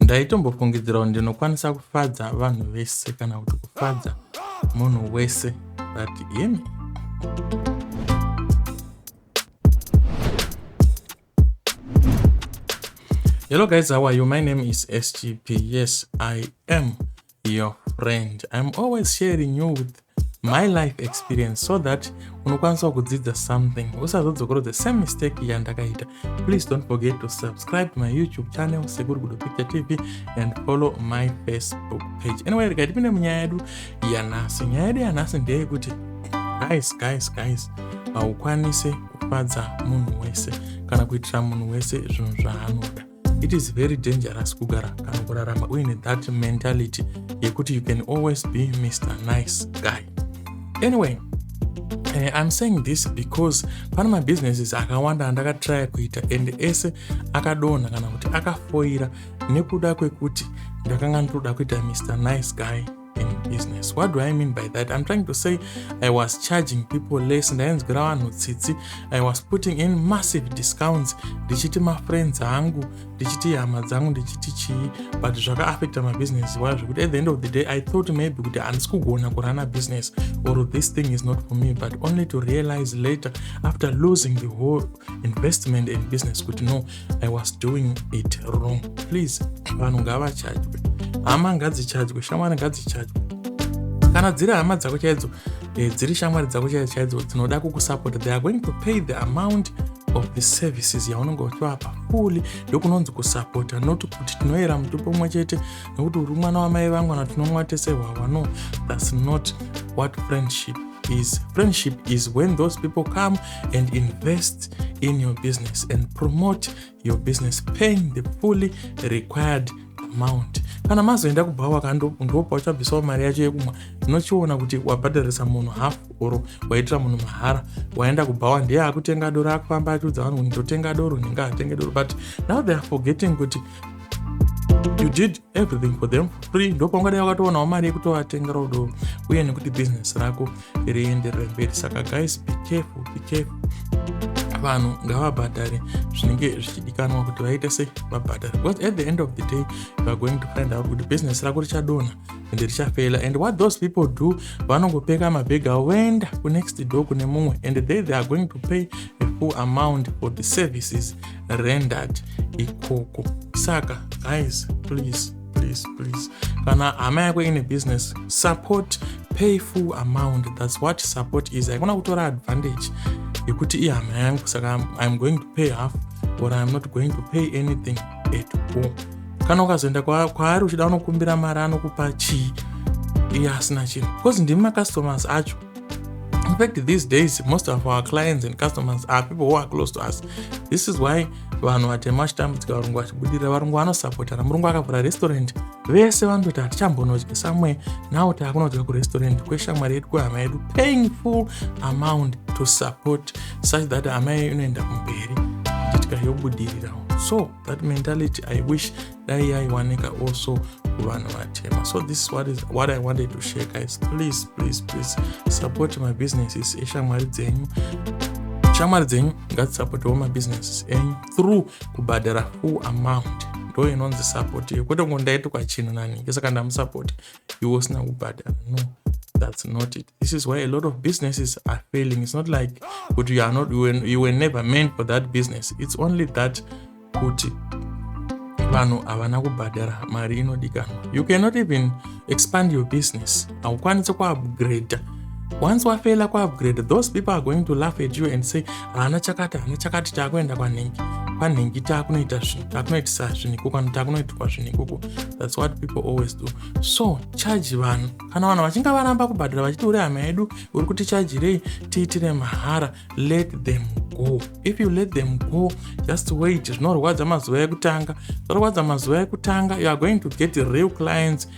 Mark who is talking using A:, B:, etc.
A: ndaitombofungidzira kuti ndinokwanisa kufadza vanhu vese kana kuti kufadza munhu wese but him hello guys how are you my name is scp yes i am your friend i'm always sharing you with my life experience so that unokwanisa kudzidza something usazodzokorwa the same mistake yandakaita please don't forget to subscribe to my youtube channel sekuru gudo picture tv and follow my facebook page anyway rega tipinde munyaya yedu yanhasi nyaya yedu yanhasi ndeyekuti guys guys guys haukwanise kufadza munhu wese kana kuitira munhu wese zvinhu zvaanoda it is very dangerous kugara kana kurarama uine that mentality yekuti you can always be mr nice guy anyway Uh, I'm saying this because pane mabusinesses akawanda andakatraya kuita and ese akadonha kana kuti akafoira nekuda kwekuti ndakanga ndotoda kuita mr nice guy in business what do i mean by that i'm trying to say i was charging people less ndainzwira vanhu tsitsi i was putting in massive discounts ndichiti mafriends angu ndichiti hama dzangu ndichiti chii but zvakaaffecta mabusiness iwayo zvekuti at the end of the day i thought maybe kuti handisi kugona kurana business or this thing is not for me but only to realize later after losing the whole investment in business kuti no i was doing it wrong please vanhu ngavachajwe hama ngadzichajwe shamwari ngadzichajwe kana dziri hama dzako chaidzo eh, dziri shamwari dzako chaidzo chaidzo dzinoda kukusapota they are going to pay the amount of the services yaunenge uchivapa fuli ndokunonzi kusapota not kuti tinoyera mutupo umwe chete nekuti uri mwana wamai vangu kana tinomwa tese hwahwa no thats not what friendship is friendship is when those people come and invest in your business and promote your business paying the fully required amount kana mazoenda kubhawa kandopa uchabvisawo mari yacho yekumwa tinochiona kuti wabhadharisa munhu half or waitira munhu mahara waenda kubhawa ndiye akutenga doro akufamba achiudza vanhu kuti ndotenga doro ndinga atenge doro but now they are forgetting kuti you did everything for them for free ndopaungadai wakatoonawo mari yekutovatenga rodo uye nekuti business rako rienderere mberi saka guys be careful be careful vanhu ngavabhadhare zvinenge zvichidikanwa kuti vaite sei vabhadhare because at the end of the day youare going to find out kuti business rako richadonha and richafela and what those people do vanongopeka mabhegi avo voenda kunext door kune mumwe and they they are going to pay a full amount for the services rendered ikoko saka guys please please please kana hama yako ine business support pay full amount thats what support is haikona kutora advantage yekuti ihama yangu saka iam going to pay half or iam not going to pay anything at all kana ukazoenda kwaari uchida unokumbira mari anokupa chii iye asina chinhu because ndimi macustomers acho In fact, these days, most of our clients and customers are people who are close to us. This is why vanhu vatema vachitambudzika varungu vachibudirira varungu vanosapotana murungu akavhura restaurant vese vanototi hatichambonodya samwe now taakunodya kurestaurant kweshamwari yedu kwehama yedu paying full amount to support such that hama yedu inoenda kumberi nditika yobudirirawo so that mentality i wish dai yaiwanika also kuvanhu vatema so this is what, is what i wanted to share guys please please please support my businesses eshamwari dzenyu shamwari dzenyu ngadzisapotewo mabusinesses enyu through kubhadhara full amount ndo inonzi support iyo kwete kungondaitwa chinhu naningi saka ndamusapoti iwe usina kubhadhara no that's not it this is why a lot of businesses are failing it's not like kuti you are not you were, you were never meant for that business it's only that kuti vanhu havana kubhadhara mari inodikanwa you cannot even expand your business haukwanisi kuupgrade once wafela kuupgrade those people are going to laugh at you and say ana chakati ana chakati taakuenda kwanhingi kwanhingi taakunoita zvinhu taakunoitisa zvinhu ikoko ano taakunoitirwa zvinhu ikoko thats what people always do so charge vanhu kana vanhu vachinge varamba kubhadhara vachiti uri hama yedu uri kuti chajirei tiitire mahara let them go if you let them go just wait zvinorwadza mazuva ekutanga zvinorwadza mazuva ekutanga you are going to get real clients